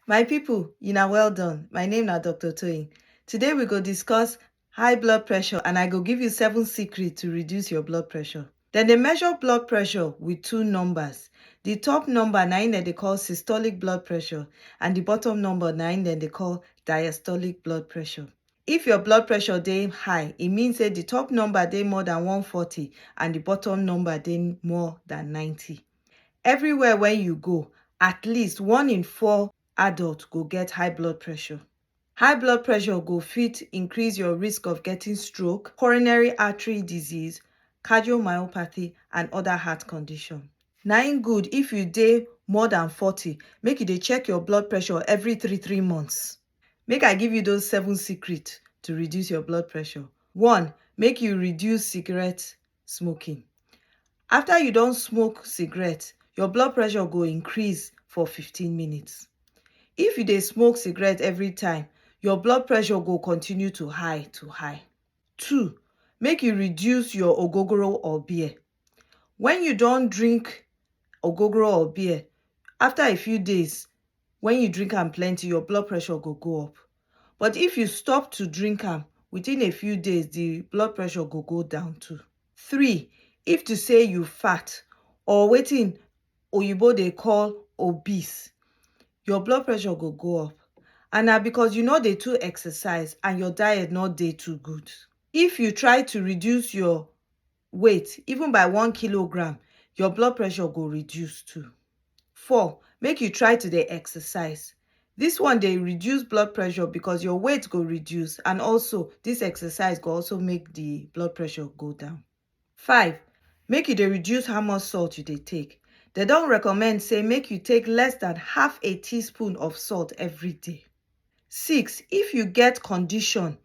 My people, una well done. My name na Dr. Toyin. Today we go discuss high blood pressure and I go give you seven secrets to reduce your blood pressure. Dem dey measure blood pressure with two numbers. The top number na im dem dey call systolic blood pressure and the bottom number na im dem dey call diastolic blood pressure. If your blood pressure dey high, e mean say the top number dey more than 140 and the bottom number dey more than 90. Everywhere wey you go, at least one in four adult go get high blood pressure. High blood pressure go fit increase your risk of getting stroke, coronary artery disease, cardiomyopathy and other heart condition. Na im good if you dey more than forty, make you dey check your blood pressure every three three months. Make I give you those seven secret to reduce your blood pressure. One, make you reduce cigarette smoking. After you don smoke cigarette, your blood pressure go increase for 15 minutes. If you dey smoke cigarette every time, your blood pressure go continue to high to high. Two, make you reduce your ogogoro or beer. When you don drink ogogoro or beer, after a few days, when you drink am plenty, your blood pressure go go up. but if you stop to drink am within a few days the blood pressure go go down too three if to say you fat or wetin oyibo dey call obese your blood pressure go go up and na because you no dey too exercise and your diet no dey too good if you try to reduce your weight even by one kilogram your blood pressure go reduce too. Four, make you try to dey exercise. This one dey reduce blood pressure because your weight go reduce and also this exercise go also make the blood pressure go down. Five, make you dey reduce how much salt you dey take. They don recommend say make you take less than half a teaspoon of salt every day. Six, if you get condition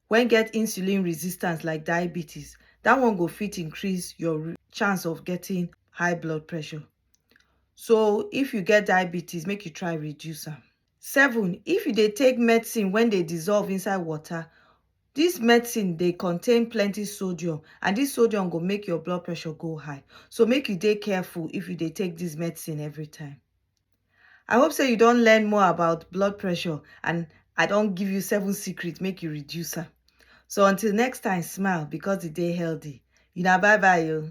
wen get insulin resistance like diabetes, dat one go fit increase your chance of getting high blood pressure. So if you get diabetes make you try reduce am. Seven, if you dey take medicine wen dey dissolve inside water, dis medicine dey contain plenty sodium and dis sodium go make your blood pressure go high so make you dey careful if you dey take dis medicine every time. I hope say you don learn more about blood pressure and I don give you seven secrets make you reduce am. So until next time, smile because the day healthy. Una bye bye yo.